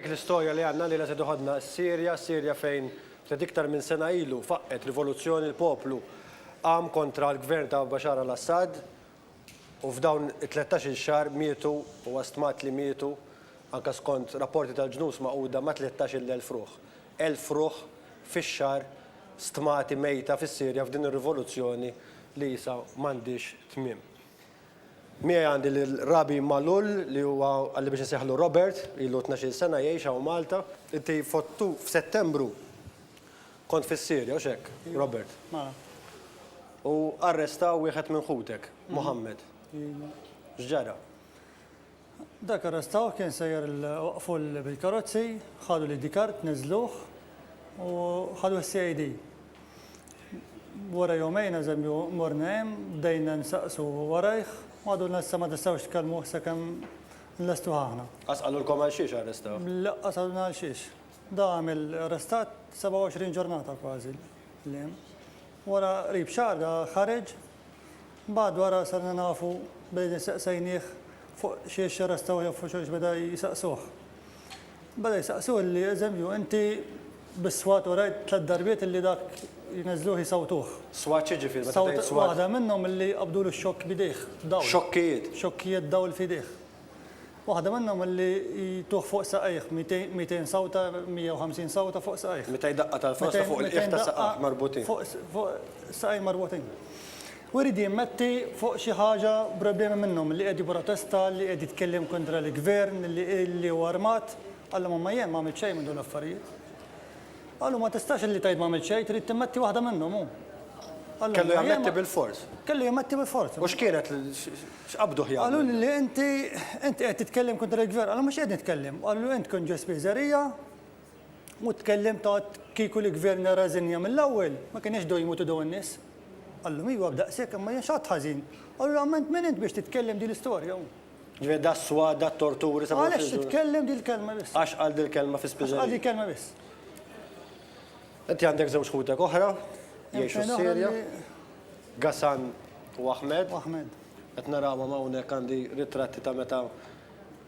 Dik l-istorja li għandna lilha se toħodna s-Sirja, Sirja fejn ftit iktar minn sena ilu faqqgħet rivoluzzjoni l-poplu qam kontra l-gvern ta' Bashar al-Assad u f'dawn it-tlettax-il xahar mietu, huwa stmat li mietu, anke skont rapporti tal-Ġnus Magħquda ma' tlettax-il elf ruħ. Elf ruħ fix-xahar stmati mejta fis-Sirja f'din ir-rivoluzzjoni li issa m'għandhiex tmiem. Miegħi għandi lil Rabi Malul li huwa, qalli biex insejħlu Robert, ilu tnax-il sena jgħix hawn Malta. Inti f'Ottu, f'Settembru kont fis-Sirja, hux hekk, Robert? Mela. U arrestaw wieħed minn ħutek, Mohammed. Iva. X'ġara? Dak arrestawh kien sejjer waqqfu bil-karozzi, ħadu l-ID card, niżżluh u ħaduh is-CID. Wara jumejn, eżempju, morna hemm, bdejna nsaqsu warajh, u għadulna issa ma tistgħux tkellmuh sakemm nlestuh aħna. Qas qalulkom għalxiex arrestawh? Laqqas qalulna għalxiex. Da għamel arrestat 27 ġurnata kważi li hemm. Wara qrib xahar da ħareġ Mbagħad wara sarna nafu billi nistaqsejnieh fuq xiex jarrestaw jew fuq xiex beda jsaqsuh. Beda jsaqsuh illi eżempju inti bis-swat urejt tliet darbiet illi dak jneżżluh jsawtuh. Swat x'jiġifieri meta tgħid swat? Waħda minnhom illi qabdulu x-xokk b'idejh, dawl. Xokkijiet? Xokkijiet dawl f'idejh. Waħda minnhom li jtuh fuq saqajh, 200 sawta, 150 sawta fuq saqajh. Meta jdaqqa' tal-frosta fuq il-qiegħ ta' saqajh marbutin. Fuq saqajh marbutin. U jrid jimmetti fuq xi ħaġa problemi minnhom, li qiegħed jipprotesta, li qiegħed jitkellem kontra l-Gvern, li hu armat. Qallhom imma jien ma għamilt xejn minn dawn l-affarijiet. Qalu ma tistax li tgħid ma għamilt xejn, trid timmetti waħda minnhom hu. Kellu jammetti bilfors. Kellu jammetti bilfors. U x'kienet X'qabduh jagħmel? Qalu lili, Inti, inti qed titkellem kontra l-Gvern. Qalu, Mhux qed nitkellem. Qalu, Int kont ġo Spiżerija u tkellimt għadt kieku l-Gvern ra rażinja mill-ewwel, ma kinux dew jmutu dawn in-nies. Qallhom, Iva, b'daqshekk, imma jien x'għadt ħażin? Qalu, Realment min int biex titkellem din l-istorja? Ġifieri das-swat, dat-torturi sabu l-priġuner. Għaliex titkellem din il-kelma biss? Għax qal din il-kelma fi Spiżerija. Għax qal din il-kelma biss. Inti għandek żewġ ħutek oħra jgħixu s-Sirja. Ghassan u Ahmed. U Ahmed. Qed narawhom hawnhekk għandi ritratti ta' meta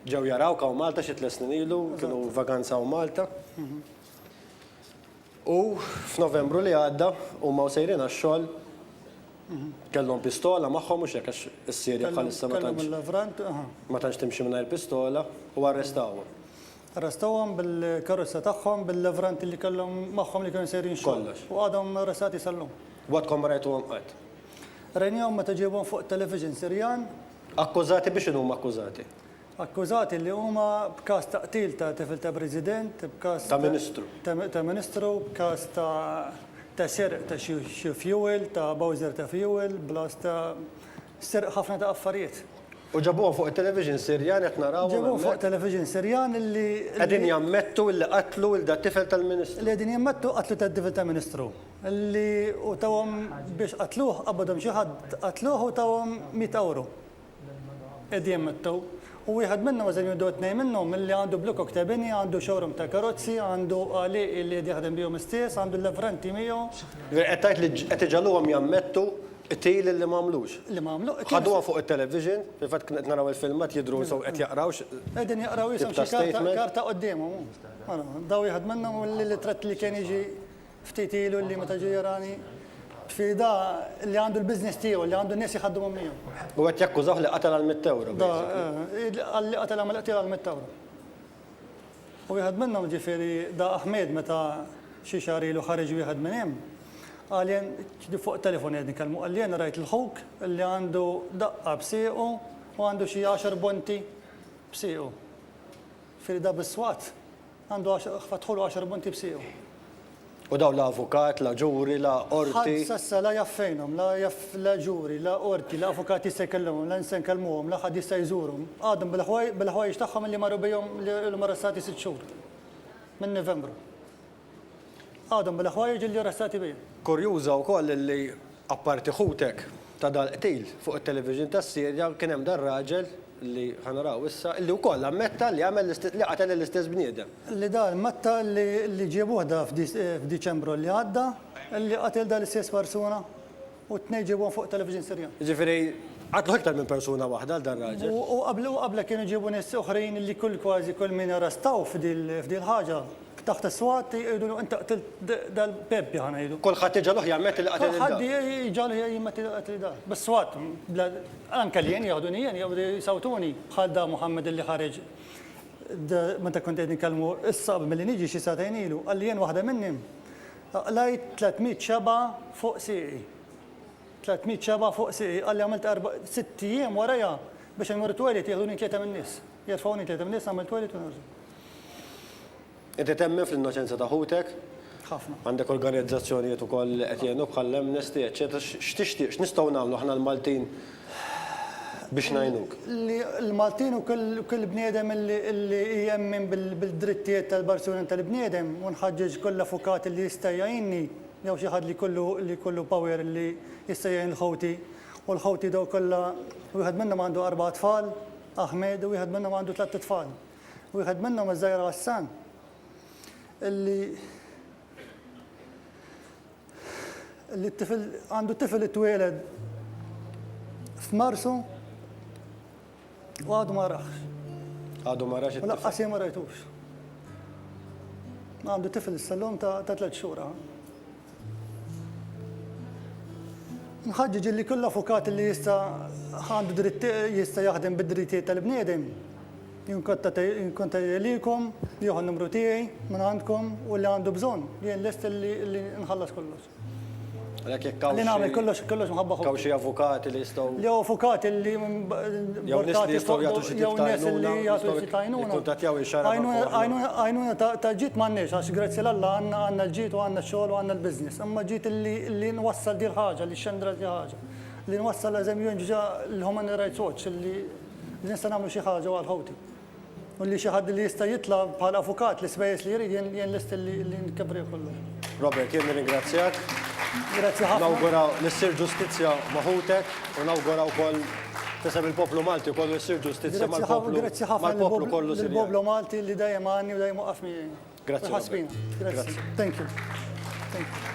ġew jarawk hawn Malta xi tliet snin ilu, kienu vaganza hawn Malta. U f'Novembru li għadda huma u sejrin għax-xogħol kellhom pistola magħhom mhux hekk għax is-Sirja bħalissa ma tantx ma tantx timxi mingħajr pistola u arrestawhom. Arrestawhom bil-karozza tagħhom, bil-levranti li kellhom magħhom li kienu sejrin xogħol. Kollox. U għadhom arrestati sal-lum. Wagħdkom ma rajtuhom qatt? Rajnihom meta ġiebhom fuq it-television Sirjan. Akkużati b'x'inhu huma akkużati? Akkużati li huma b'każ ta' qtil ta' tifel ta' President, b'każ. Ta' Ministru. Ta' Ministru, b'każ ta' ta' serq ta' xi xi fuel, ta' bowser ta' fuel, blas ta' serq ħafna ta' affarijiet. U ġabuhom fuq it-television Sirjan qed narawhom hemmhekk. Ġabuhom fuq television Sirjan li. Qegħdin jammettu illi qatlu il dat-tifel tal-Ministru. Li qegħdin jammettu qatlu tad-tifel tal-Ministru. Li u tawhom biex qatluh qabadhom xi ħadd qatluh u tawhom mitt ewro. Qegħdin jammettu. U wieħed minnhom eżempju jew tnejn minnhom illi għandu Blue Cock ta' bini, għandu showroom ta' karozzi, għandu għalieqi li qed jaħdem bihom istess, għandu l-avranti miegħu. Ġifieri qed tgħid li qed iġagħluhom jammettu Qtil illi ma għamlux. Li ma għamlu qtil. Ħaduha fuq it-television, fil-fatt qed naraw il-filmat jidhru sew qed jaqraw x'. Qegħdin jaqraw jisom xi karta karta quddiemhom hu. Ara, daw wieħed minnhom u l-itrat li kien jiġi ftit ilu li meta ġie jarani tfida li għandu l-business tiegħu li għandu n-nies jħaddmuhom miegħu. U qed jakkużawh li qatel għal mitt ewro. Da, qalli qatel għamel qtil għal mitt ewro. U wieħed minnhom, ġifieri Da Ahmed meta xi xahar ilu ħareġ wieħed minn hemm, qalli, ġifieri fuq it-telefon qegħdin nitkellmu, qalli jiena rajt 'l ħuk li għandu daqqa b'siequ u għandu xi għaxar bonti b'siequ. Ġifieri da bis-swat għandu għaxar, fatħulu għaxar bonti b'siequ. U dawn la avukat, la ġuri, la qorti. Ħadd s'issa la jaf fejnhom, la jaf la ġuri, la qorti, la avukat jista' jkellimhom, la insan kellmuhom, la ħadd jista' jżurhom. Għadhom bil-ħwajjeġ tagħhom illi marru bihom li ilhom arrestati sitt xhur, minn Nivembru. Għadhom bil-ħwajjeġ illi arrestati bihom. Kurjuża wkoll illi apparti ħutek ta' dal-qtil, fuq it-television tas-Sirja kien hemm dar-raġel li ħa naraw issa, li wkoll ammetta li għamel li qatel lill-istess bniedem. Li dan metta li ġiebuh da f'Diċembru li għadda li qatel dan l-istess persuna u t-tnejn ġiebuhom fuq television Sirjan. Jiġifieri qatlu iktar minn persuna waħda lil dan ir-raġel. U qablu u qablha kienu ġiebu nies oħrajn li kull kważi kull min arrestaw f'dil ħaġa Taħt is-swat jgħidu li inti qtilt dal-pempja ħa ngħidu. Kulħadd jiġgħelu ħjar metti li qatel lil dan. Kulħadd jiġgħelu ħjar jien metti li qatli dan. Bis-swat, anke li jien jaħduni jien jew jsawtuni bħal dan Muhammad li ħareġ meta kont qegħdin inkellmu issa milli niġi xi sagħtejn ilu, qalli jien waħda minnhi qlajt 300 xebgħa fuq sieqi. 300 xebgħa fuq sieqi qalli għamilt erba' sitt ijiem warajha biex immur it-toilet jieħduni tlieta min-nies. Qiegħed f'hawn int li qed temmni issa għamilt wegħdi tul Qed qed temmen fl-innoċenza ta' ħutek? Ħafna. Għandek organizzazzjonijiet ukoll li qed jgħinuk bħall Amnesty eċċetera x'tixtieq x'nistgħu nagħmlu aħna l-Maltin biex ngħinuk? Li l-Maltin u kull bniedem li jemmen bil-drittijiet tal-persuni u tal-bniedem u nħaġġeġ kull avukat li jista' jgħinni jew xi ħadd li jkollu li jkollu power li jista' jgħin il-ħuti u l-ħuti dawk kollha wieħed minnhom għandu arba' tfal, Ahmed u wieħed minnhom għandu tliet itfal. Wieħed minnhom iż-żgħira Hassan li li t-tifel għandu tifel li twieled f'Marsu u għadu ma raħx. Għadu ma raħx. U laqqas ma rajtux. Għandu tifel s-sallum ta' tliet xhur. Nħaġġiġ li kull avukat li jista' għandu dritt jista' jaħdem bid-drittijiet tal-bniedem. Jien konta jelikom li jieħu numru tiegħi minn għandkom u li għandu bżonn jien lest li nħallas kollox. Għalhekk jekk hawn xi. Li nagħmel kollox kollox mħabba ħuti. Hawn xi avukati li jistgħu. Li avukati li jew nies li jistgħu jagħtu xi tip ta' għajnuna, jikkuntattjaw il-xahar ta' Born. Għajnuna tal-ġid m'għandniex għax grazzi l-Alla għandna l-ġid u għandna x-xogħol u għandna l-business. Imma ġid li nwassal din il-ħaġa, li xxendret din il-ħaġa, li nwassal eżempju nġa' l-Human Rights Watch li nista' nagħmlu xi ħaġa għal ħuti. U li xi ħadd li jista' jitla' bħala avukat l-ispejjeż li jrid, jien jien lest li li nkepprih kollu. Robert, jien nirringrazzjak. Grazzi ħafna. Nawgura li ssir ġustizzja ma' ħutek u nawgura wkoll f'isem il-poplu Malti kollu li ssir ġustizzja mal-poplu Grazzi ħafna, grazzi ħafna lill-poplu mal-poplu kollu Sirjan. lill-poplu Malti li dejjem għanni u dejjem waqqaf miegħi. Grazzi, Robert. Ħassbina. Grazzi. Grazzi. Thank you. Thank you.